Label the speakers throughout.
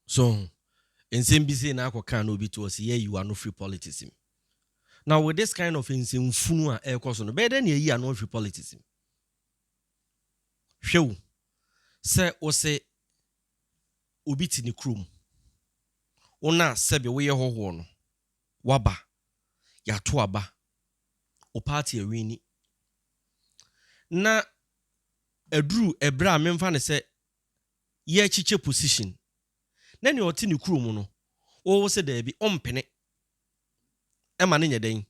Speaker 1: So ho? Nsɛm bi sei na akɔ kaa na obi to hɔ se yɛayi w'ano firi politics mu. Now with this kind of nsɛmfunu a ɛrekɔ so no, bɛyɛ dɛn na yɛayi ano afiri politics mu? Hwɛ o, sɛ wose obi te ne kurom, wo na sɛbe woyɛ hɔhoɔ no, waba, yɛato aba, wo party awini, na aduru ɛberɛ a memfa no sɛ yɛ kyekyɛ position na nea ɔte ne kuro mu no wo wo sɛ daabi ɔmpene ɛma no nyɛ dɛn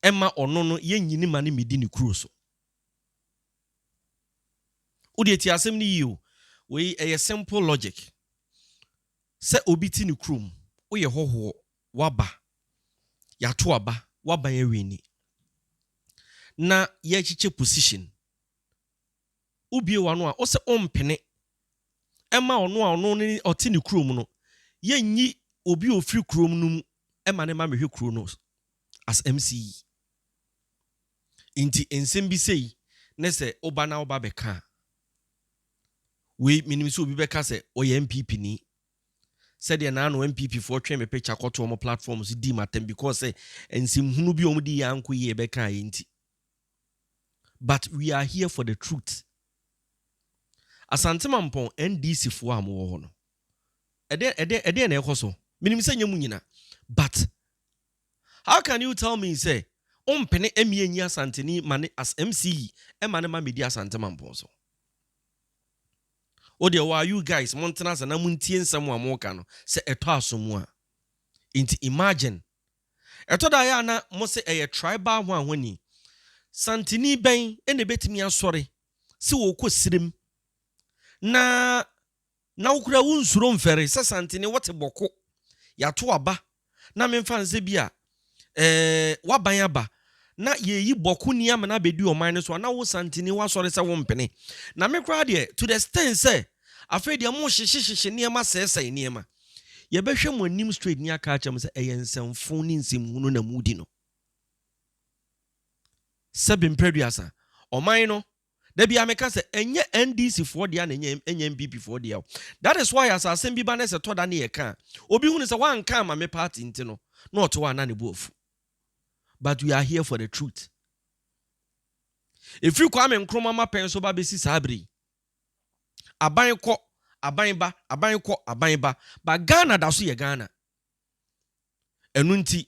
Speaker 1: ɛma ɔno no yɛ nyini ma no medi ne kuro so wo deɛ ti asɛm no yie o wei ɛyɛ simple logic sɛ obi te ne kuro mu woyɛ hɔhoɔ waba yɛato aba waban awini na yɛkyekyɛ position Wobue w'ano a, wose wompene mma ɔno a ɔno ne ɔte ne kurom no yɛnyi obi a ofiri kurom no mu mma no mma mehwɛ kuro no as MC yi. Nti nsem bi sei ne sɛ woba na woba bɛka a, wei menim sɛ obi bɛka sɛ ɔyɛ NPP ni, sɛdeɛ na ano NPP foɔ twe me picture kɔto wɔn platform so dii m'atɛm because sɛ nsem hunu bi a wɔn de yɛ ankɔ yie bɛka a yɛ nti. But we are here for the truth. Asante Mampɔn NDC foɔ a wɔn wɔ hɔ no, ɛdeɛ ɛdeɛ ɛdeɛ na ɛkɔ so. Menim sɛ nyɛ mu nyina, but how can you tell me sɛ ɔmpene ɛmi enyi Asanteni ma ne as MCE ɛma ne ma medi Asante Mampɔn so? O deɛ waa you guys mo ntena ase na mo ntie nsɛm a wɔn ka no sɛ ɛtɔ aso mu a. Nti imagine Ɛtɔ da a, ɛyɛ a na wɔse ɛyɛ tribal hwan hwan ni. Santini bɛn na ebetumi asɔre sɛ ɔrekɔ sirem na na wo koraa wonsuro mfɛre sɛ Santini wote bɔko, yɛato aba na memfa nsɛ bi a ɛɛ w'aban aba na yɛreyi bɔko ni ama no abɛdi ɔman no so a, na wo Santini w'asɔre sɛ wompene. Na me koraa deɛ to the extent sɛ Afei deɛ morehyehyehyehye nneɛma sɛesɛe nneɛma. Yɛbɛhwɛ mo anim straight ne aka akyerɛ mo sɛ ɛyɛ nsɛmfoo ne nsɛmhunu na moredi no. Sɛbe Mprɛduasa, Ɔman no, da biara meka sɛ ɛnyɛ NDC foɔ dea na ɛnyɛ NPP foɔ dea o. That is why as asɛm bi ba na sɛ ɛtɔ da ne yɛka a, obi hunu sɛ wanka amma me party nti no, na ɔte hɔ a na ne bo afu. But we are here for the truth. Ɛfiri Kwame Nkrumah mmapɛn so ba bɛsi saa berɛ yi, Aban kɔ, aban ba, aban kɔ, aban ba, but Ghana da so yɛ Ghana. Ɛno nti,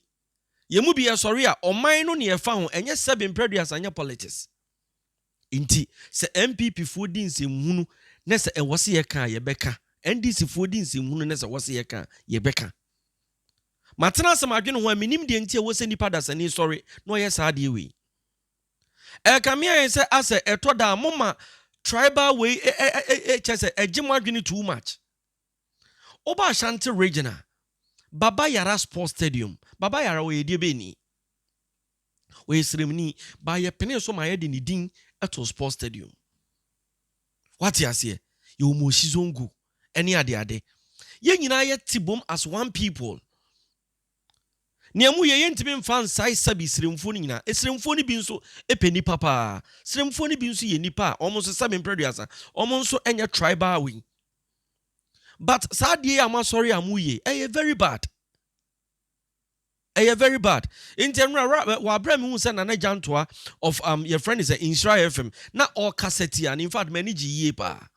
Speaker 1: yɛn mu bi ɛsɔre a, ɔman no ne ɛfa ho, ɛnyɛ sɛbe mprɛduasa, ɛnyɛ politics. Nti, sɛ NPP foɔ di nsɛmhunu na sɛ ɛwɔ se yɛka a, yɛbɛka. NDC foɔ di nsɛmhunu na sɛ ɛwɔ se yɛka a, yɛbɛka. Matena ase madwene ho a, mennim deɛ nti a ɛwɔ sɛ nipa dasani sɔre na ɔyɛ saa adeɛ wei. Ɛkame ayɛ sɛ asɛ ɛtɔ da a mo ma tribal wei kyɛ sɛ ɛgye mo adwene too much. Woba Ashanti region a, Baba Yara Sports Stadium, Baba Yara ɔyɛ deɛbɛni? Ɔyɛ sremni, but yɛpenee so ma yɛde ne din too Sports Stadium. Wate aseɛ? Yɛwɔ Moshi Zongo ɛne adeade. Yɛn nyinaa yɛte bom as one people. Nea emu ye, yentumi mfa nsae Sabi sremfuo no nyinaa. Esremfuo no bi nso pɛ nnipa paa. Sremfuo no bi nso yɛ nnipa a wɔn nso Sabi mprɛduasa. Wɔn nso nyɛ tribal wei. But saa adeɛ yi a moasɔre a moyɛ ɛyɛ very bad. Ɛyɛ very bad. Nti ɛnora ra wɔ abere a mehu sɛ Nana Gyantoa of um, yɛfrɛ no sɛ Nhyira FM na ɔkasa tiaa no in fact m'ani gye yie paa.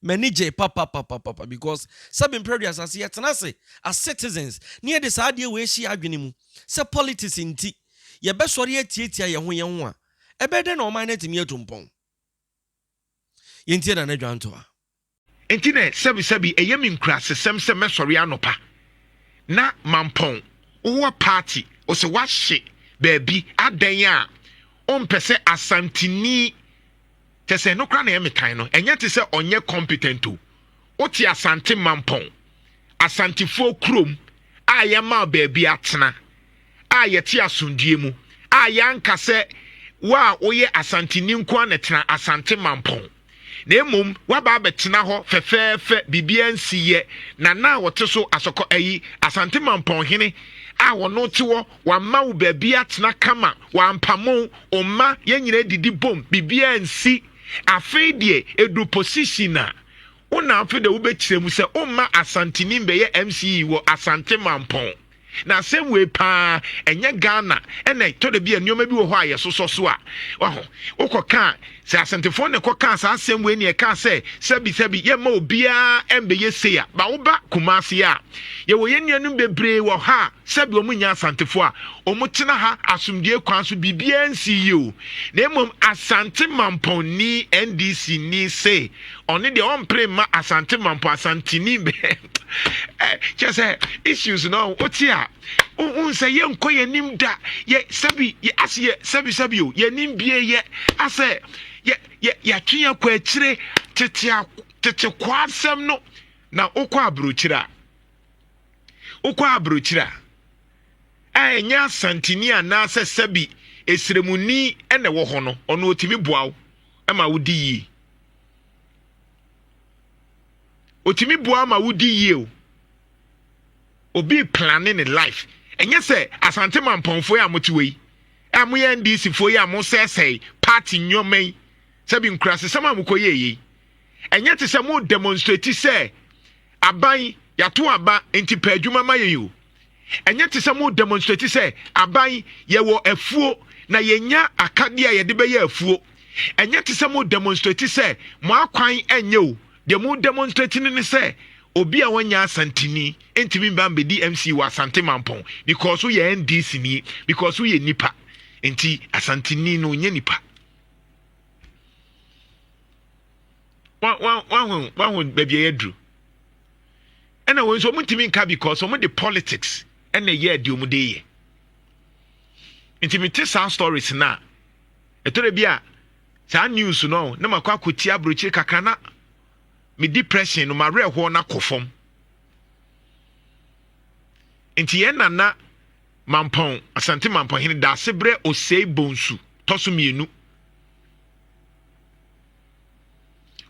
Speaker 1: M'ani gyei papapapapa because sɛbe mpere aduasa ase yɛtena ase as citizens na yɛde saa adeɛ wei ahyɛ yɛn adwene mu sɛ politics nti yɛbɛsɔre atiatia yɛn ho yɛn ho a, ɛbɛyɛ dɛn na ɔman no atumi atu mpɔn? Yɛntie Nana Dwantoa. Enti na
Speaker 2: sɛbesɛbe ɛyɛ me nkurasesɛm sɛ mɛsɔre anɔpa na mampɔn woa party ɔsɛ wahye baabi adɛn a ɔmpɛ sɛ Asanteni, Kyɛsɛ ɛno koraa na ɛyɛ me tan no. Ɛnyɛ te sɛ ɔnyɛ competent o. Wote Asante Mampɔn, Asantefoɔ kurom a yɛmaa baabi atena a yɛte asomdwoeɛ mu a yɛanka sɛ wo a woyɛ Asanteni nko ara na ɛtena Asante Mampɔn na mmom woaba abɛtena hɔ fɛfɛɛfɛ biribiara nsi yɛ na na a wɔte so asɔkɔ ayi Asante Mampɔn hene a wɔno te wɔ Wama wo baabi atena kama, wampamo wo mma yɛn nyinaa didi bom, biribiara nsi. Afei deɛ ɛduru position a, wo na afei deɛ wobɛkyerɛ mu sɛ womma Asanteni mbɛyɛ MCE wɔ Asante Mampɔn. Na asɛm wei paa, ɛnyɛ Ghana ɛna ɛtɔ da bi a nneɛma bi wɔ hɔ a yɛsosɔ so a, waho, wokɔka a, sɛ Asantefoɔ na ɛkɔkaa saa asɛm wei na ɛkaa sɛ sɛbi sɛbi yɛmma obiara mbɛyɛ sei a, ba woba Kumasi a, yɛwɔ yɛn nuanom bebree wɔ ha a, Sɛdeɛ wɔn nyɛ Asantefoɔ a wɔtena ha asomdwoeɛ kwan so biribiara nsii yie o, na mmom Asante mampɔnni, NDC, ni se ɔno deɛ ɔmpere mma Asante mampɔn, Asanteni, kyerɛ sɛ issues no wote a wohu sɛ yɛnkɔ yɛn anim da yɛ sɛbi yɛ ase yɛ sɛbi sɛbi o yɛn anim bie yɛ asɛ yɛ yɛ yɛatwe yɛn kɔ akyire tete tete kɔ asɛm no na wokɔ aburokyire a. Wokɔ aburokyiri a, a ɛnyɛ asanteni anaasɛ sɛbi esremuni na ɛwɔ hɔ no, ɔno otumi boa wo ma wodi yie. Otumi boa ma wodi yie o. Obi plane ne life. Ɛnyɛ sɛ asante mampɔnfo yi a mote wɔ yi, a moyɛ NDC fo yi a mosɛesɛe party nneɛma yi, sɛbi nkurasesɛm a mokɔyɛ yi, Ɛnyɛ te sɛ mo demonstrate sɛ aban yɛato aba nti pɛ adwuma ma yɛn o. Ɛnyɛ te sɛ mo demonstrate sɛ aban yɛwɔ afuo na yɛnya akadeɛ a yɛde bɛyɛ afuo. Ɛnyɛ te sɛ mo demonstrate sɛ mo akwan ɛnyɛ o. Deɛ mo demonstrate no ne sɛ obi a wɔnyɛ asantini ntumi mba mbɛdi MC wɔ Asante Mampɔn because woyɛ NDC ni because woyɛ nipa nti asantini no nyɛ nipa. wahu wahu baabi a yɛaduru ɛna wɔn nso wɔn ntumi nka because wɔn de politics ɛna ɛyɛ adi wɔn de yɛ ntumi te saa stories na ɛtɔrɔ bi a saa news no na ma kɔ akɔti aburokyire kakra na me depression no ma werɛ hɔ na kɔ fam nti yɛn nana mampɔn asante mampɔn hene daase brɛ osei bonsu tɔso mmienu.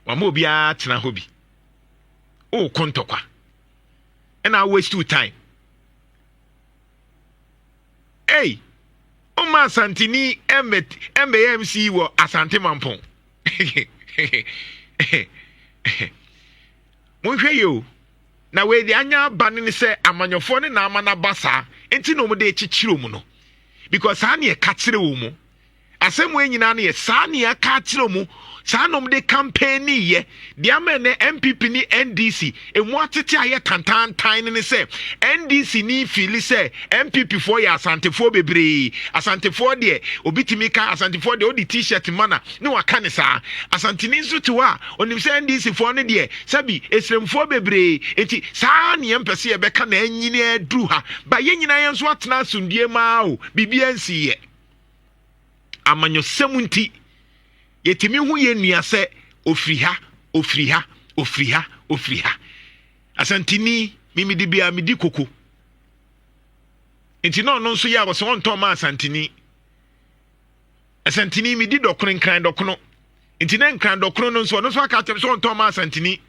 Speaker 2: wama obiara atena hɔ bi wokɔ ntɔkwa ɛna awaste wo time ei ɔma asanteni ɛmbɛyɛ mc wɔ asante mampɔn monhwɛ yɛ o na wei de anya aba no ne sɛ amanyɔfoɔ ne na ama no aba saa nti na wɔde kyekyere mu no because saa ne ɛka kyerɛ wɔ mu Asɛm wei nyinaa no yɛ saa nea ɛka akyerɛ mu saa na wɔde kampɛɛni yɛ deɛ ama ɛnɛ npp ne ndc emu atete ayɛ tantantan no ne sɛ ndc ni fiili sɛ npp foɔ yɛ asantefoɔ bebree asantefoɔ deɛ obi tumi ka asantefoɔ deɛ ɔde t-shirt mana ne waka ne saa asanteni nso te hɔ a ɔnim sɛ ndc foɔ no deɛ sɛbi esremfoɔ bebree nti saa neɛ mpɛ sɛ yɛbɛka na anyini aduru ha ba yɛ nyinaa yɛn nso atena asomdue maa o biribi ansi yɛ amanyɔsɛm nti yɛtumi hu yɛn nua sɛ ofiri ha ofiri ha ofiri ha ofiri ha asantini mimidi bia midi koko nti na ɔno nso yɛ a wɔsɛ ɔntɔn ma asantini asantini midi dɔkono nkran dɔkono nti na nkran dɔkono no nso ɔno nso aka akyɛm sɛ ɔntɔn ma asantini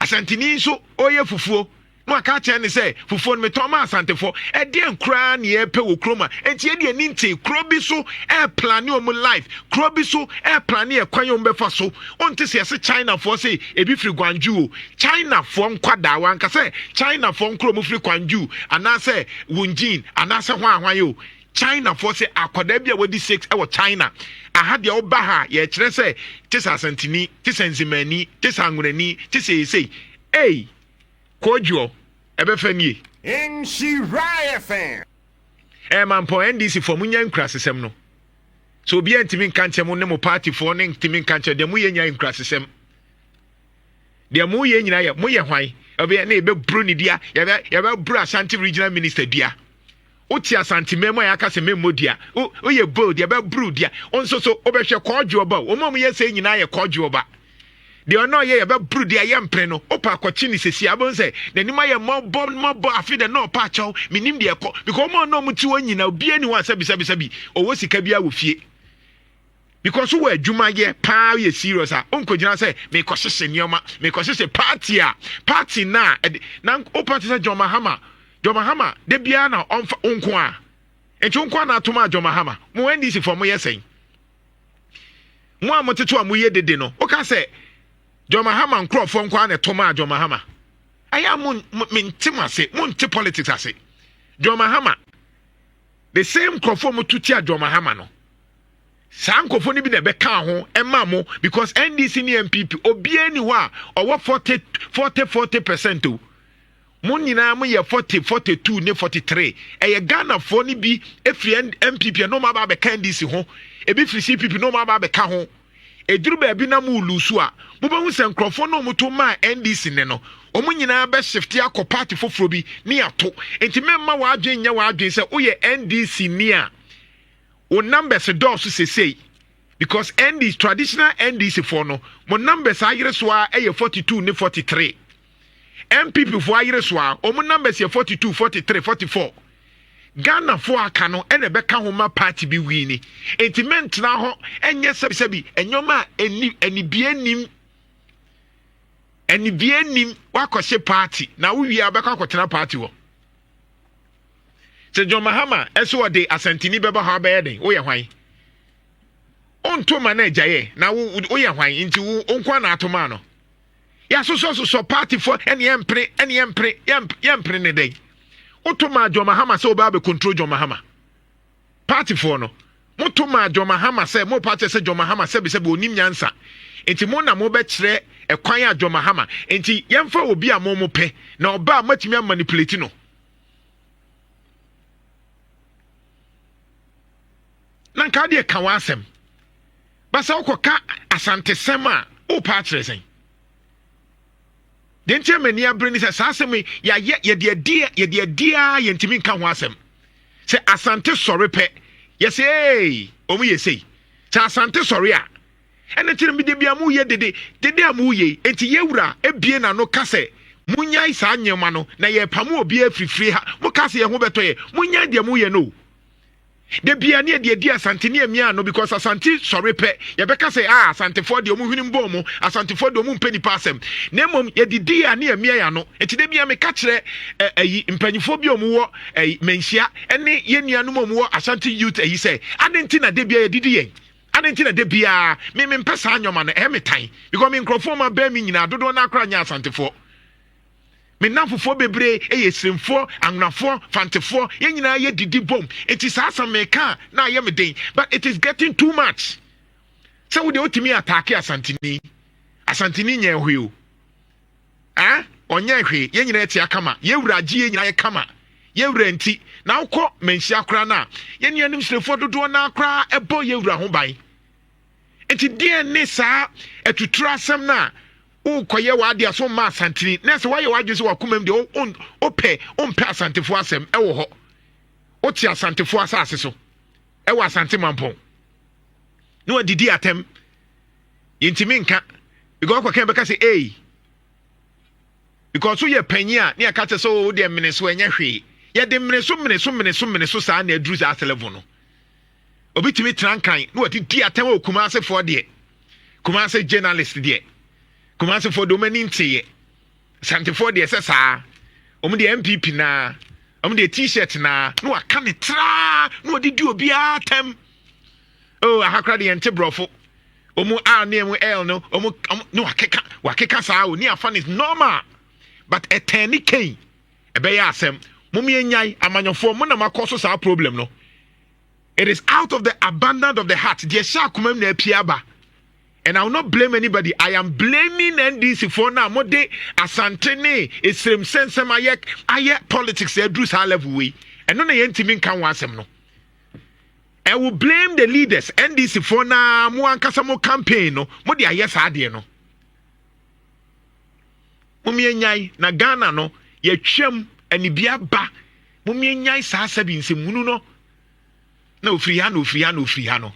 Speaker 2: Asanteni nso ɔreyɛ fufuo na waka akyerɛ ne sɛ fufuo no metɔn ma asantefo. Ɛdeɛn koraa na yɛrepɛ wɔ kurom a enti yɛde ani ntee kuro bi so ɛreplane wɔn life, kuro bi so ɛreplane ɛkwan wɔn bɛfa so. Wonte sɛ yɛse Chinafoɔ se ebi firi Gwangju o, Chinafoɔ nkwadaa wanka sɛ Chinafoɔ nkoro mu firi Kwangju anaasɛ Wunjin anaasɛ hwan hwan o. China foɔ sɛ akwadaa bi a wadi six ɛwɔ China aha deɛ ɔba ha yɛkyerɛ sɛ te sɛ asantini te sɛ nzemani te sɛ anwurani te sɛ esei ei kɔɔdwoɔ ɛbɛfɛ nie. Nhyira
Speaker 3: FM. Eh mampɔn
Speaker 2: NDC foɔ mo nya nkurasesɛm no so obiara ntumi nka nkyɛn mo ne mo party foɔ ne ntumi nka nkyɛn deɛ mo yɛ nya nkurasesɛm deɛ mo yɛ nyinaa yɛ mo yɛ hwan ɛbɛyɛ ne yɛbɛburu ne dua yɛbɛ yɛbɛburu Asante regional minister dua. Wote Asante mmaa mu a yɛaka sɛ memmɔ dua. Wo, woyɛ bold, yɛbɛboro dua. Wo nso so, wobɛhwɛ kɔɔdwoɔ ba o. Wɔn a wɔyɛ sei nyinaa yɛ kɔɔdwoɔ ba. Deɛ ɔno a ɔyɛ yɛbɛboro dua yɛ mpene no, wopɛ akɔkye ne sɛsi a, wobɛhu sɛ n'anim ayɛ mmɔbɔ mmɔbɔ afe dɛ na ɔpɛ akyɛw. Menim deɛ ɛkɔ. Because wɔn a ɔno a wɔte hɔ nyinaa, obiara ni hɔ a sɛbisɛbisɛbi, ɔwɔ sika biara wɔ fie. because wɔ adwuma yɛ paa yɛ serious a ɔnkɔgyina sɛ mekɔhyehyɛ nneɛma mekɔhyehyɛ party a party no a ɛde na wopate sɛ John Mahama John Mahama da biara na ɔmfa wo nko a nti wo nko a na atom a John Mahama mo NDC fɔ moyɛ sɛn mo a motete a moyɛ dede no woka sɛ John Mahama nkurɔfoɔ nko a na ɛtom a John Mahama ɛyɛ a mo mente mo ase monte politics ase John Mahama the same nkurɔfoɔ moto tia John Mahama no saa nkɔfo no bi na ɛbɛkaa ho ɛma mo because ndc ne npp obiara ni hɔ a ɔwɔ forty forty forty percent o mo nyinaa mo yɛ forty forty two ne forty three ɛyɛ ghanafoɔ no bi efiri npp ɛna ɔmo aba abɛka ndc ho ebi firi cpp na ɔmo aba abɛka ho eduru baabi na mo lusu a mo bɛhu sɛ nkorɔfoɔ na ɔmo to maa ndc ne no ɔmo nyinaa bɛ shifte akɔ party foforɔ bi ne ato nti mɛmma w'adwen nyɛ w'adwen sɛ woyɛ ndc ni a Wo numbers dɔɔso sesei because ND traditional NDC foɔ no mo numbers ayere so ara ɛyɛ 42 ne 43. NPP foɔ ayere so ara wɔn numbers yɛ 42, 43, 44. Ghana foɔ aka no ɛna ɛbɛka ho ma party bi wini. Enti mentena hɔ ɛnyɛ sɛbisɛbi ɛnyɔma a ɛnim anibie nim anibie nim wakɔhyɛ party na wowie a wobɛkɔ akɔtena party hɔ. sɛ john mahama ɛsɛ ɔde asantini bɛba hɔ abɛyɛ den woyɛ hwan ɔnto ma no agyaeɛ na woyɛ hwan nti wo nkoa na ato maa no yɛasosɔsosɔ partyfoɔ ɛne yɛmpene ɛne yɛmpene yɛmpene ne dɛn woto maa john mahama sɛ wobɛa bɛkontro john mahama partyfoɔ no moto maa john mahama sɛ mo party sɛ john mahama sɛbisɛbi ɔnim nyansa nti mo na mobɛkyerɛ ɛkwan a john mahama nti yɛmfa obi a mo mo pɛ na ɔba a moatumi amanipulate no na nka wode ka w'asɛm basa wokɔka asantesɛm a wopa akyerɛ sɛn deɛ nti ama ani abere ne sɛ saa asɛm yi yɛayɛ yɛde adi yɛde adi a yɛntumi nka ho asɛm sɛ asante sɔre pɛ yɛsɛ ee wɔn yɛ sei sɛ asante sɔre a Ɛno nti no, mede bia moyɛ dede, dede a moyɛ yi, enti yɛn Wura abue n'ano ka sɛ, Monnyae saa nneɛma no, na yɛrepamo obiara afiri fie ha. Mokaa sɛ yɛn ho bɛtɔ yɛn. Monnyae deɛ moyɛ no o. Da bia ne yɛde adi Asante ne amia ano, because Asante sɔre pɛ, yɛbɛka sɛ, Ah, Asantefoɔ deɛ, wɔn hwenem bɔn wɔn. Asantefoɔ deɛ, wɔn mpɛ nnipa asɛm. Na mmom, yɛde di a ne yɛamia yɛn ano. Enti da bia meka kyerɛ ɛ, ayi, mpanimfoɔ bi a wɔwɔ ayi, Manhyia, ne yɛn nuanom a wɔwɔ Ashanti Youth ayi sɛ, adɛn nti na da bia yɛde di yɛn. Adɛn nti na da biara me mempɛ saa nneɛma no? Ɛyɛ me tan because me nkurɔfoɔ ma bɛn me nyinaa dodoɔ no akora nyɛ asantefoɔ. Me nnamfofoɔ bebree yɛ siremfoɔ, anwonafoɔ, fantefoɔ, yɛn nyinaa yɛ didi bom. Eti saa asɛm meka a na ayɛ me den but it is getting too much. Sɛ wo deɛ wotumi ataake asanteni, asanteni nyɛ hwee o. ah ɔnyɛɛ hwee yɛn nyinaa ɛte akama yɛn wura agye yɛn nyinaa yɛ kama yɛn wura nti na wokɔ manhyia koraa no a yɛn nuanom srefoɔ dodoɔ no koraa ɛbɔ yɛn wura ho ban nti deɛ ne saa atuturo asɛm no a wokɔyɛ w'adeɛ so mma asantini na sɛ woayɛ w'adwene sɛ wakomam deɛ wopɛ wompɛ asantefoɔ asɛm ɛwɔ hɔ wote asantefoɔ asase so ɛwɔ asante mampɔn na wadidi atɛm yɛntumi nka because kɔkɛ bɛka sɛ ei because woyɛ panyin a ne yɛka kyɛ sɛ wo deɛ mene so ɛnyɛ hwee yɛde mene so mene so mene so mene so saa na aduru saa selevo no obi tumi tena nkan na wɔde di atɛm wɔ kumaasefoɔ deɛ kumase journalist deɛ kumasefoɔ deɛ wɔn ani nteeɛ santefoɔ deɛ sɛ saa wɔn deɛ npp naa wɔn deɛ t-shirt naa na wɔaka ne traa na wɔde di obiara atɛm. oh aha kora de yɛn te borɔfo ɔmu r ne ɛmu l no ɔmu ne wakeka wakeka saa o ne afa ne normal but ɛtɛn ne kɛn ɛbɛyɛ asɛm mo mi enyae amanyɔfoɔ mo na mo akɔ so saa problem no it is out of the abundance of the heart deɛ ɛhyɛ akoma mu na apia aba and i will not blame anybody i am blaming ndc for na mo de asante ne esrem sɛnsɛm ayɛ ayɛ politics aduru saa level wei ɛno na yɛntumi nka ho asɛm no. I will blame the leaders NDC foɔ na mo ankasa mo campaign no mo de ayɛ saa adeɛ no momienyae na Ghana no yɛtwam anibia ba momienyae saa sɛbi nsɛmhunu no na ofiri ha na ofiri ha na ofiri ha no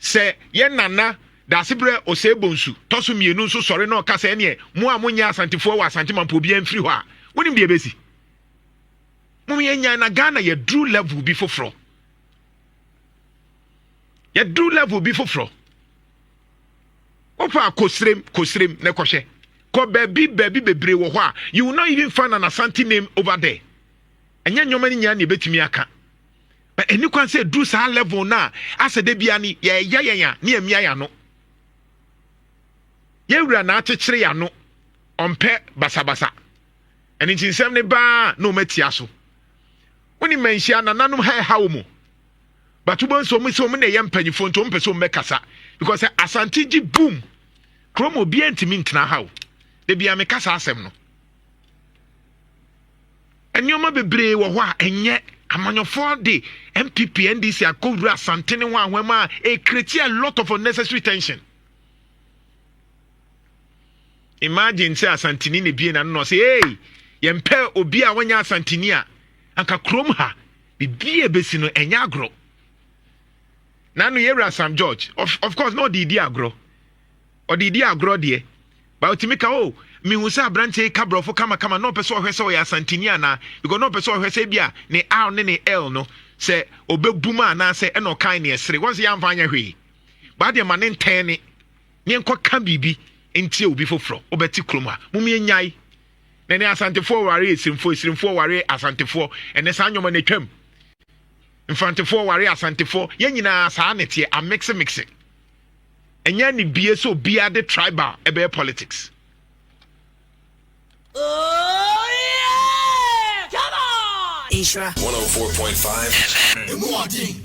Speaker 2: sɛ yɛ nana daasebrɛ ɔsɛe bonsu tɔ so mmienu nso sɔre na ɔka sɛ ɛneɛ mo a monyɛ asantefoɔ wɔ asante mampo obiara mfiri hɔ a wonim deɛ ɛbɛsi mo yɛ nyan na ghana yɛduru level bi foforɔ yɛduru level bi foforɔ wopa kosirem kosirem na kɔhwɛ kɔ baabi baabi bebree wɔ hɔ a you will not even find an asante name over there ɛnyɛ nneɛma no nyinaa na ebɛtumi aka but ɛni kwan sɛ ɛduru saa level no a asɛ da bia ne yɛyɛ yɛn a ne yɛmia yɛ ano yɛwura na akyekyere yɛ ano ɔmpɛ basabasa Ɛno nti nsɛm no baa na wɔn atia so. Wonim manhyia nananom ha ɛha wo mu. But wobɛhu sɛ wɔn sɛ wɔn na ɛyɛ mpanimfoɔ nti wɔn pɛ sɛ wɔn bɛkasa. Because sɛ asante gye boom kurom obiara ntumi ntena ha o. Da bia meka saa asɛm no. Nneɛma bebree wɔ hɔ a ɛnyɛ amanyɔfoɔ de npp ndc akɔwura asantene ho ahoɛma a ɛkreti a lot of unnecessary tension imagine sɛ asantini na ebie n'ano na ɔsɛ ee yɛmpɛ obi a wɔnyɛ asantini a anka kurom ha biribi a ebesi no ɛnyɛ agorɔ na no yɛwura sam george of, of course na ɔde di agorɔ ɔde di agorɔ deɛ ba otumi ka o oh, mehu sɛ aberanteɛ yi ka borɔfo kamakama na ɔpɛ sɛ ɔhwɛ sɛ ɔyɛ asantini anaa because na ɔpɛ sɛ ɔhwɛ sɛ bi a ne r ne ne l no sɛ ɔbɛbum a anaasɛ ɛna ɔkan ne ɛsere wɔn sɛ yɛamfa anyɛ hwee baa deɛ ma ne ntɛn ne ne nkɔka biribi ntie obi foforɔ wobɛte kurom a mom yɛnyae na ɛne asantefoɔ ware esirimfoɔ esirimfoɔ ware asantefoɔ ɛnɛ saa nneɛma no atwam mfrantefoɔ ware asantefoɔ yɛn nyinaa saa ne teɛ amixemix ɛnyɛ ne bie sɛ obiara de tribal ɛbɛyɛ politics
Speaker 4: Nhyira 104.5 FM. Emu
Speaker 5: ɔden.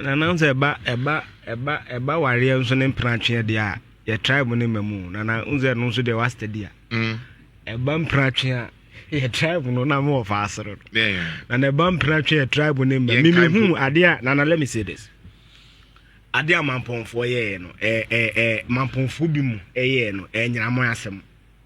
Speaker 5: Nana nso ɛba ɛba ɛba ɛba wareɛ nso ne mpratweɛ deɛ a yɛ tribe ne ma mu nana nso ɛno nso deɛ wasta di a mm. ɛba mpratweɛ a yɛ tribe no na mewɔ fa asoro no na na ɛba mpratweɛ yɛ tribe ne ma mi mi hu adeɛ a nana let me say this adeɛ a mampɔnfoɔ yɛɛ no ɛɛ ɛɛ mampɔnfoɔ bi mu ɛyɛɛ no ɛnyinamɔ asɛm.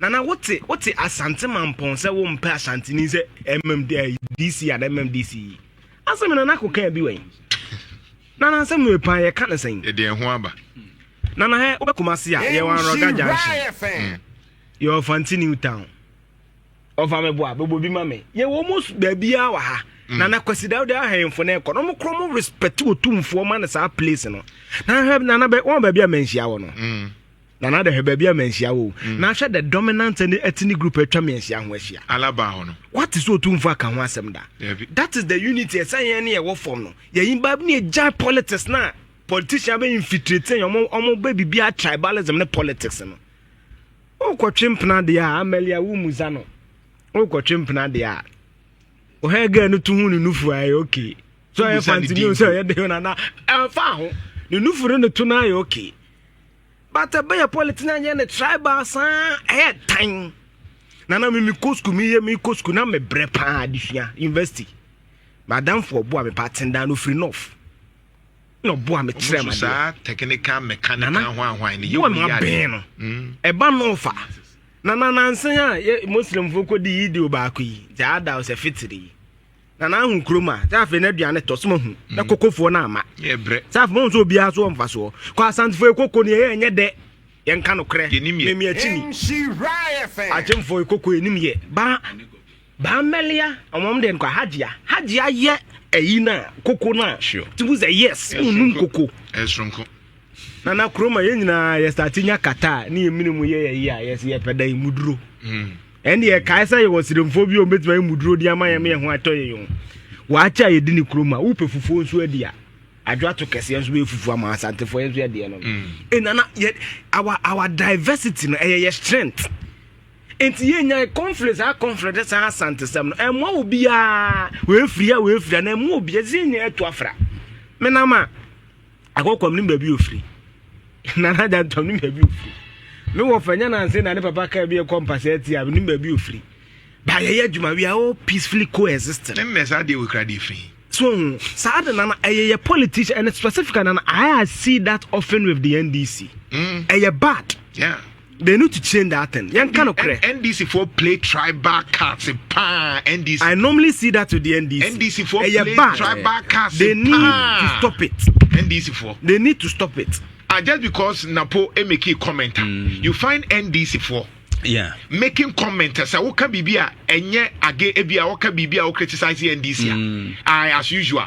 Speaker 5: Nana wote wote asante mampɔn sɛ wompɛ asanteni sɛ ɛmɛm DC ana ɛmɛm DC yi asɛm nana ko kan bi wɛn nana asɛm no epan yɛ ka ne sɛn. Ɛde ɛho aba.
Speaker 2: Nana hɛ
Speaker 5: wobɛ kumase a yɛ wɔn arɔga junction yɛ ɔfanti new town ɔfa mi bo a bɛbɔ bi ma mi yɛ wɔn mo baabi a wɔ ha. Mm. na na kwasi dawuda ahemfo no ɛkɔ no ɔmo korɔ mo respect otumfoɔ ma no saa place no na hwɛ nana bɛ wɔn baabi a mɛnhyia wɔ no mm. nana dɛ hwɛ baabi a manhyia wo mm. na hwɛ the dominant ne ethnic group atwa me anhyia ho ahyia alaba hɔ no wate
Speaker 2: sɛ ɔtumfo aka
Speaker 5: ho asɛm da that is the unity ɛsɛ yɛn ne yɛwɔ fam no yɛyi ba ne yɛgyae politics no a politician bɛ infiltrate yɛn ɔmo bɛ biribiara tribalism ne politics no wokɔtwe mpena deɛ a amalia wo mu za no wokɔtwe mpena deɛ a ɔhɛ gɛ no to ho ne nufu ayɛ okay so ɛyɛ fanti ne sɛ ɔyɛ de ho nana ɛmfa ho ne nufu ne ne to no ayɛ okay but ɛbɛyɛ politics na ɛnyɛ ne tribal saa ɛyɛ tan na na mimi kɔ sukuu meyɛ mi kɔ sukuu na mebrɛ paa adesua university madamfo ɔboa me paa tendan no firi north na ɔboa me kyerɛ ma saa technical
Speaker 2: mechanical hwanhwan ne yɛ wɔn yɛ adeɛ no hmm.
Speaker 5: ɛba north a na nanansan a muslimfoɔ kɔ di yi di o baako yi gyaada ɔsɛ fitiri yi. na n'ahu kurom a sɛ afei n'aduane tɔ soma hu na mm. kokofoɔ no ama sɛ afei mahu
Speaker 2: sɛ obiara so wɔ
Speaker 5: mfasoɔ kɔ asantefoɔ koko ne ɛyɛ ɛnyɛ dɛ yɛnka nokorɛ memi akyini agyemfoɔ koko ɛnim yɛ baa baa mmɛlea ɔmam deɛ nkɔ hagyea hagyea yɛ ayi no a koko no a timu sɛ yes wonum koko
Speaker 2: na na
Speaker 5: kurom a yɛn nyinaa yɛsate nya kata a ne yɛ mene mu yɛ yɛyi a yɛsɛ yɛpɛ dan muduro hmm. ɛnde yɛkae sɛ yɛwɔ seremfoɔ bi a ɔbɛtumi ayɛ muduro de ama yɛ ma yɛ ho atɔ yɛ yɔn wɔakyɛ a yɛdi ne kurom a wopɛ fufuo nso adi a adwato kɛseɛ nso bɛyɛ fufuo ama asantefoɔ yɛn nso yɛdeɛ no hmm. ɛnana yɛ our our diversity no ɛyɛ yɛ strength nti yɛnya conflict saa conflict saa asantesɛm no ɛmmoa obiara wɔafiri a wɔafiri a na ɛmmoa obiara sɛ yɛnya ɛto afra menam a Akɔkɔ menim baabi ofiri. Nana agya ntɔm menim baabi ofiri. Me wɔ fɛ nyɛ nanse na ne papa kaa bi ɛkɔ mpasɛ ati a menim baabi ofiri. Ba yɛyɛ adwuma we are all peacefully coexisting. Ɛnna saa deɛ wɔ kura
Speaker 2: deɛ firi. So hu saa
Speaker 5: de nana ɛyɛ yɛ politician and specifically nana I see that often with the NDC. Mm. Ɛyɛ bad. Yeah. They need to change that thing. Yɛn ka no korɛ. NDC for
Speaker 2: play tribal cards paa NDC. I normally see that
Speaker 5: with the NDC. NDC for play
Speaker 2: bad. tribal cards
Speaker 5: They
Speaker 2: need paa. to
Speaker 5: stop it. NDC for. They
Speaker 2: need to stop it. Uh, just because Napo eh,
Speaker 5: make
Speaker 2: a comment, mm.
Speaker 5: you
Speaker 2: find NDC
Speaker 5: for.
Speaker 2: Yeah. making comment sɛ woka biribi a ɛnyɛ age ebi a woka biribi a wo criticize ndc a mm. as usual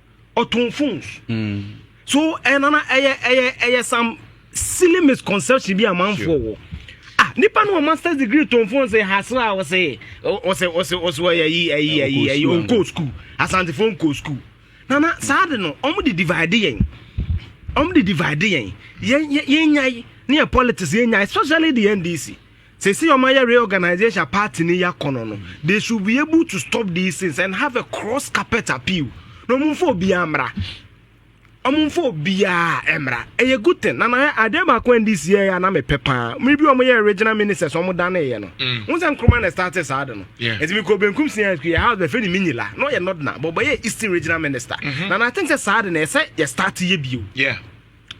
Speaker 5: ɔtɔn phones mm. so ɛnana eh, ɛyɛ ɛyɛ ɛyɛ some silly misconception bi amanfoɔ wɔ ah nipa no wɔ masters degree tɔn phones ɛ hasra ɔsɛ ɔsɛ ɔsɛ ɔsɛ ɔyɛ ayi ayi ayi ayi ɔnkɔ school asantefo nkɔ school nana saa de no wɔn de divide yɛn wɔn de divide yɛn yɛn yɛn nyae ne yɛ politics yɛn nyae especially the ndc. Seesei ɔmo ayɛ reorganization a party no yɛ akɔnɔ no, they should be able to stop these things and have a cross carpet appeal. Na ɔmo nfa obiara mmra. Ɔmo nfa obiara mmra. Ɛyɛ good thing. Na na yɛ adeɛ baako a NDC yɛ a na mepɛ paa. Mmiri bi ɔmo yɛ regional ministers ɔmo daneeɛ no. Mm. Wɔn sɛ Nkrumah na start saa de no. Ɛti mi kɔ benkum si yɛn yɛ house bɛfɛ ni Minyila. Na ɔyɛ Nodna. Bɔbɔ yɛ Eastern regional minister. Mm-hmm. Na na I think sɛ saa de na ɛsɛ yɛ start yɛ bio. Yeah.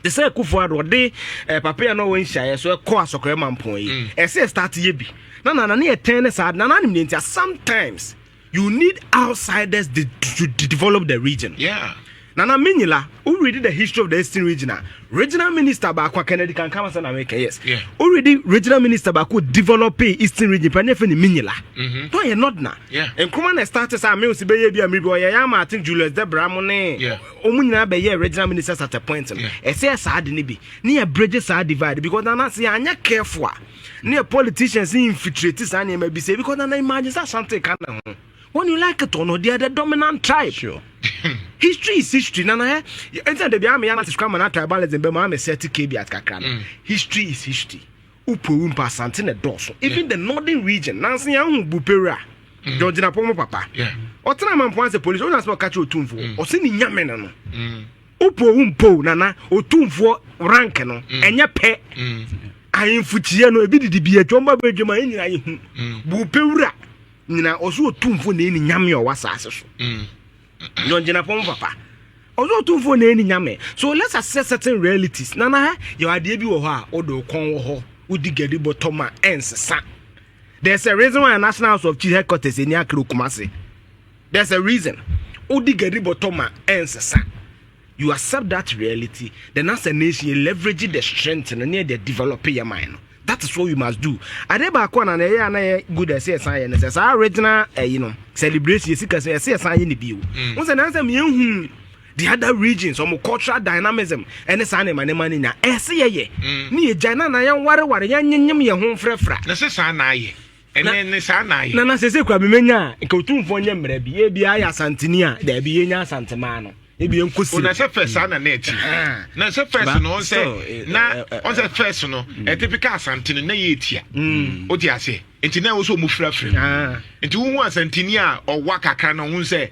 Speaker 5: te sɛ akufo ado ɔde eh, papaya na ɔwɔ nhyiaeɛ so ɛkɔ asɔkora mampɔn yi mm. ɛsɛ start yɛ bi na nana ne yɛtɛn ne saa nana anim ne ntia sometimes you need outsiders to, to, to develop the region yeah. nana menyila who read the history of the eastern region a regional minister baako kennedy kan kama sɛ na meka yes yeah. who read regional minister baako develop eastern region pɛ ne fɛ ne menyila mm-hmm. no yɛ not na yeah. nkroma na start sɛ a mewo si bɛyɛ bi a miribi ɔyɛ yɛ ama ate julius debra mo ne yeah. Wɔn nyinaa bɛyɛɛ regional ministers at a point no. Ɛsɛ yɛ saa ade no bi ne yɛ bridge saa divide because nana sɛ yɛanyɛ careful a ne yɛ politicians infiltrate saa nneɛma bi sɛ because nana imagine sɛ Asante ka na ho when you like it or not they are the dominant tribe. Sure. history is history nana ɛ ɛnti na dabi ama yɛ anasɛ sukuu ama na tribalism bɛ mu ama sɛ ti kebi at kakra no mm. history is history. Upowu mpo Asante na ɛdɔɔso. Even the northern region. Nanso yɛn ho bu Peru a. Mm. John gyina pɔn mu papa. Ɔtena amampo ansa polisi ɔnyɛ asɛm ɔka kyerɛ otumfoɔ. Mm. Ɔsi ne nyame no no. Mm. Upowu mpo nana otumfoɔ rank no ɛnyɛ pɛ. Ahemfo kyia no ebi didi bi adwom ba bɛ adwom a ɛnyina yɛ hu. Bu Peru a nyina ɔso otumfoɔ na ɛni nyame ɔwɔ asaase so. na ɔgyina pɔn papa ɔsɛ ɔtumfoɔ na ɛni nyame so let's accept certain realities nana ha yɛ adeɛ bi wɔ hɔ a wode wo kɔn wɔ hɔ wodi gadi bɔtɔ ma ɛnsesa there's a reason why national house of chief headquarters ɛni akere okuma se there's a reason wodi gadi bɔtɔ ma ɛnsesa You accept that reality then as a nation yɛ leverage the strength no ne yɛde develop yɛ man no that is what we must do ade baako na ɛyɛ a na yɛ good ɛsɛ yɛsan yɛ no sɛ saa original ɛyi no celebration yɛsi kɛse ɛsɛ yɛsan yɛ ne bio mm. wo sɛ nansɛ meyɛhu the other regions ɔmo cultural dynamism ɛne saa nneɛma nneɛma no nya ɛsɛ yɛyɛ mm. ne yɛgya no na yɛnwareware yɛnyenyem yɛn ho mfrɛfra na sɛ saa na ayɛ
Speaker 2: ɛnɛ ne saa na ayɛ. nana sese kura mi menya a
Speaker 5: nka otumfoɔ nyɛ mmerɛ bi ebi ayɛ asanteni a dɛbi yɛ nya asantemaa no ebi yɛn kɔ si. ona sɛ fɛs saa na na
Speaker 2: ɛti na sɛ fɛs no ɔn sɛ na ɔn sɛ fɛs no ɛtipika asanteni na yɛ etia o ti aseɛ nti na ɛwɔ sɛ ɔmo firafira nti wohu asanteni a ɔwa kakra na ɔho sɛ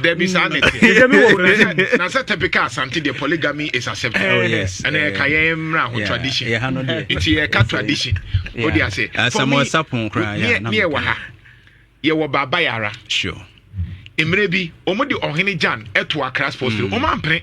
Speaker 5: dabi
Speaker 6: saa ne
Speaker 2: teɛ na sɛ typical asante deɛ polygamy is accepted ɛna yɛka
Speaker 6: yɛn mmra
Speaker 2: ho tradition nti yɛka tradition wode ase
Speaker 6: ne ɛwɔ
Speaker 2: ha yɛwɔ baaba yɛara
Speaker 6: mmerɛ bi
Speaker 2: ɔmode ɔhene gyan ɛto akra sports mm. ɔmampene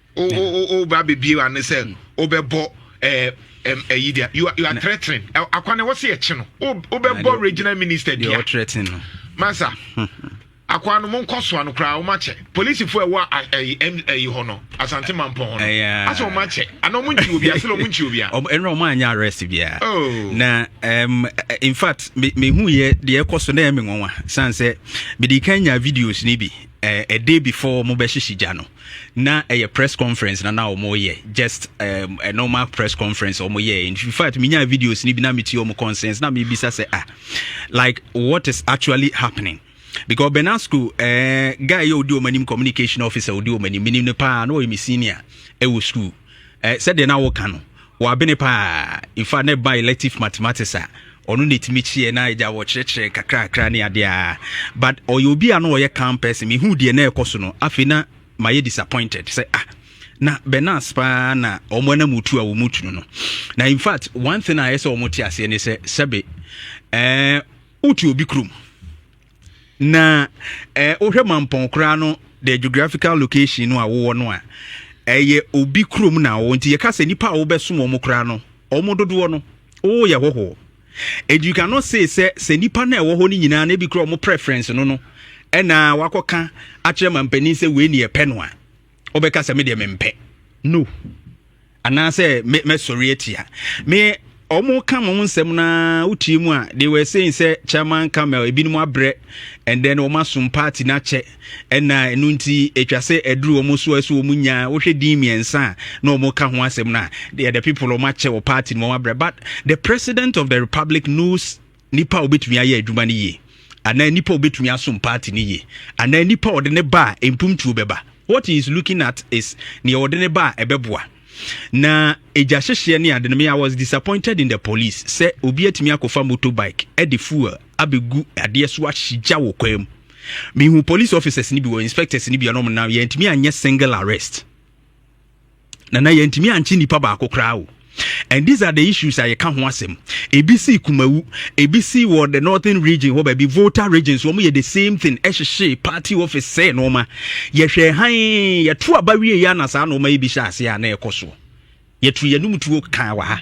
Speaker 5: woba
Speaker 2: bɛbie ano sɛ wobɛbɔ ɛyi deɛ you are threatening akwa no wɔse yɛkye no wobɛbɔ regional minister dua masa akwa no monkɔ soa no koraa wɔmakyɛ polisifoɔ ɛwɔ ayi hɔ no asante mampɔn hɔ no asɛ wɔmakyɛ ana ɔmonkyi obi asɛ ɔmonkyi obi a ɛnna ɔmo anyɛ arrest
Speaker 6: biara oh. na um, in fact mehu yɛ deɛ ɛkɔ so na ɛme nwanwa san sɛ mede kan nya videos no bi a day before wɔn bɛhyehye gya no na ɛyɛ press conference na na wɔn yɛ just um, a normal press conference wɔn yɛ in fact mi nya videos ni bi na mi ti wɔn concerns na mi bisa sɛ ah like what is actually happening because benasco ɛɛ eh, guy yɛ odi wɔn anim communication officer odi wɔn anim minim ne paa na ɔyɛ mi senior ɛwɔ school. eh, sɛdeɛ na woka no wabene paa in fact na ɛba elective mathematics a ɔno na ɛtumi kyeɛ na agya wɔkyerɛkyerɛ kakrakra ne adeɛ a but ɔyɛ obi a na ɔyɛ calm person mehu deɛ na ɛkɔ so no afei na mayɛ disappointed sɛ ah na benas paa na wɔn anam otu a wɔn tu no na in fact one thing a ɛyɛ sɛ wɔn te aseɛ ne sɛ sɛbe ɛɛ eh, wotu obi kurom na eh, wohwɛ mampɔn koraa no the geographical location no a wowɔ no a ɛyɛ obi kurom na wɔ nti yɛka sɛ nipa a wobɛsom wɔn koraa no wɔn dodoɔ no wowɔ yɛ hɔhoɔ and you cannot say sɛ sɛ nipa no a ɛwɔ hɔ no nyinaa na ebi kura wɔn preference no no ɛna wakɔka akyerɛ mampanin sɛ wei ne yɛpɛ no a wɔbɛka sɛ me deɛ mempɛ no anaasɛ me mɛsɔre atia me wɔn ka wɔn nsɛm na wotie mu a they were saying sɛ chairman camel ebinom abrɛ and then wɔn asom party n'akyɛ ɛna ɛnu nti atwa sɛ aduru wɔn so ɛso wɔn nya wohwɛ din mmiɛnsa a na wɔn ka ho asɛm na the people wɔn akyɛ wɔ party no wɔn abrɛ but the president of the republic knows nipa a obetumi ayɛ adwuma no yie anaa nipa a obetumi asom party no yie anaa nipa a ɔde ne ba a mpomtuo bɛba what he is looking at is nea ɔde ne ba a ɛbɛboa na egya hyehyeɛ ne ade no me i was disappointed in the police sɛ obi atumi akɔfa motorbike ɛde fuel abɛgu adeɛ so ahyigya wɔ kwan mu mehu police officers ni bi wɔ inspectors ni bi a ɔnom nam yɛntumi anyɛ single arrest nana yɛntumi ankye nipa baako koraa o and these are the issues a yɛka ho asɛm ebi si kumawu ebi si wɔ the northern region hɔ baabi volta region so wɔn yɛ the same thing ɛhyehyɛ party office sɛ nneɛma yɛhwɛ han yɛto aba wie yɛ ana saa nneɛma yi bi hyɛ ase a na ɛkɔ so yɛto yɛnum tuo kan wɔ ha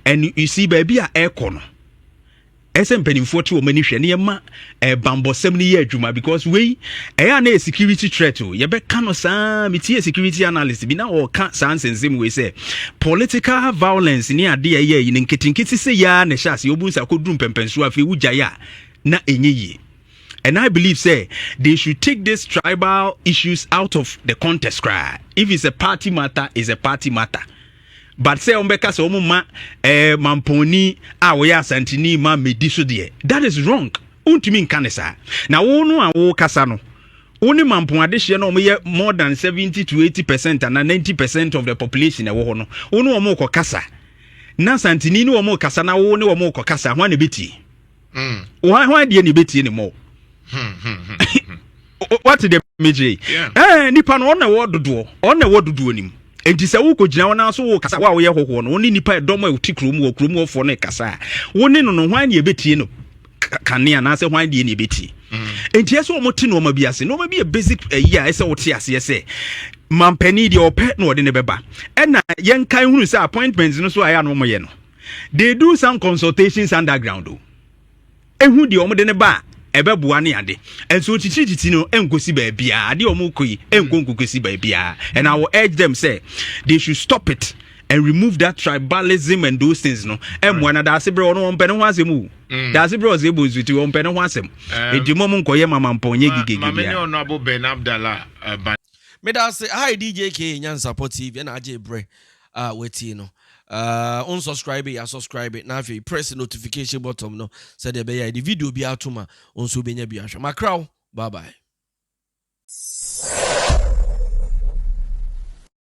Speaker 6: and you see baabi a ɛkɔ no Ɛsɛ mpanimfoɔ te wɔn ani hwɛ na yɛma eh, bambɔsɛm no yɛ adwuma because wei ɛyɛ eh, a na yɛ security threat o yɛbɛka no saa metie security analyst bi na ɔka saa nsensem wei sɛ political violence ne adeɛ ɛyɛ yi no nketenkete sɛ yɛa na ɛhyɛ ase ɔbu nsa kɔduru mpɛmpɛnsoɔ afei wogyae a na ɛnyɛ yie and i believe say they should take these tribal issues out of the contest cry if it's a party matter it's a party matter but sɛ wɔbɛka sɛ wɔn ma ɛɛ eh, mampɔnni a wɔyɛ asantini ma medi so deɛ that is wrong wontumi nka ne saa na wo no a wokasa no wo ne mampɔn adehyeɛ no wɔyɛ more than seventy to eighty percent ana ninety percent of the population ɛwɔ hɔ no wo ne wɔn kɔ kasa na asantini ne wɔn kasa na wo ne wɔn kɔ kasa ho a na ɛbɛtie hwan hwan deɛ ne bɛtie ne mmɔ wate deɛ megyere eh, nipa no ɔna ɛwɔ dodoɔ ɔna ɛwɔ dodoɔ nim nti sɛ wokɔgyina wɔn aso wo kasa wo a woyɛ hɔhoɔ no wo ne nipa ɛdɔm a ɛti kurom wɔ kurom wɔfoɔ no kasa a wo ne no no hwan ne ɛbɛtie no kane anaasɛ hwan deɛ ne ɛbɛtie mm. nti ɛsɛ wɔn te nneɛma bi ase nneɛma bi yɛ basic ayi a ɛsɛ wɔte aseɛ sɛ mampanin deɛ ɔpɛ na ɔde ne bɛba ɛna yɛnkan hunu sɛ appointment no so a ɛyɛ a na wɔyɛ no they do some consultations underground o ehu deɛ wɔn de ne ba a ɛbɛboa ne ade nso kyikyirikyiti no nkosi baabiara adeɛ a wɔn kɔ yi nko nkokosi baabiara and i will urge them say they should stop it and remove that tribalism and those things no ɛmoa na daase berɛ ɔno ɔmpɛ ne ho asɛm o mm. daase berɛ ɔsɛ ɛbɔ nsuti ɔmpɛ ne ho asɛm ɛdi mɔ mu nkɔyɛ mamampɔn nyɛ gigege
Speaker 2: bia meda
Speaker 1: ase hi dj k nyansapɔ tv ɛna agye berɛ a watie no. Uh, on subscribe ya subscribe na afei press notification button no sɛdeɛ ɛbɛyɛ a yɛde video bi ato ma wo nso wobɛnya bi ahwɛ makra wo bye bye